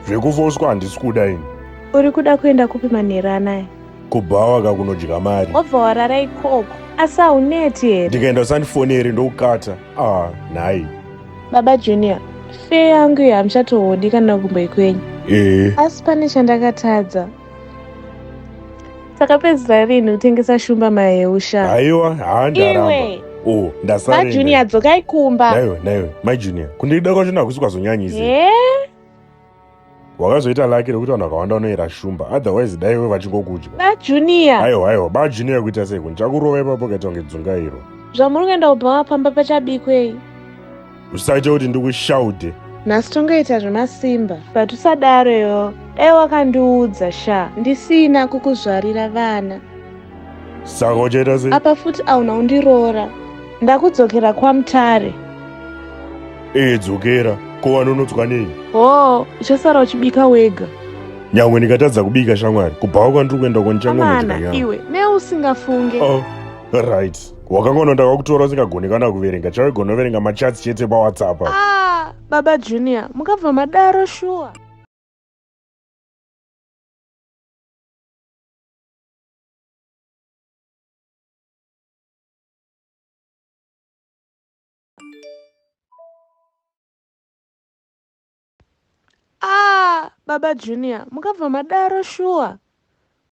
zvekufoswa handisi kuda ini uri kuda kuenda kupi manheru anaya kubhawa ka kunodya mari wabva warara ikoko asi hauneti here ndikaenda usandifoneri ndokukata ah nhai baba junior fee yangu iyo hamuchatohodi kana kumbo ikwenyu ee asi pane chandakatadza takapedzisa rinhi kutengesa shumba maheusha haiwa haa ndaramba iwe oh ndasarenda majunior dzokai kumba naiwe naiwe mai junior kundida kwacho nakusi kwazonyanyisa Eh? wakazoita laki rekuti vanhu vakawanda vanoyera shumba otherwise dai iwe vachingokudya majunior haiwa haiwa ba junior kuita sei kuni chakurova ipapo ukaita kunge dzungairo zvamuri kuenda kubhawa pamba pachabikwei usaite kuti ndikushaude nhasi tongoita zvemasimba but usadaro yo dai wakandiudza sha ndisina kukuzvarira vana saka uchaita sei apa futi auna undiroora ndakudzokera kwamutare ee dzokera ko wanonodzwa nei hoo uchasara uchibika wega nyangwe ndikatadza kubika shamwari kubhawa kwandiri kuenda ko ndichangonodya amana nyama iwe neusingafunge oh right wakangononda kwakutora usingagoni kana kuverenga chawe gonoverenga machats chete pawhatsapp ah, baba junior mukabva madaro shuwa ah, baba junior mukabva madaro shuwa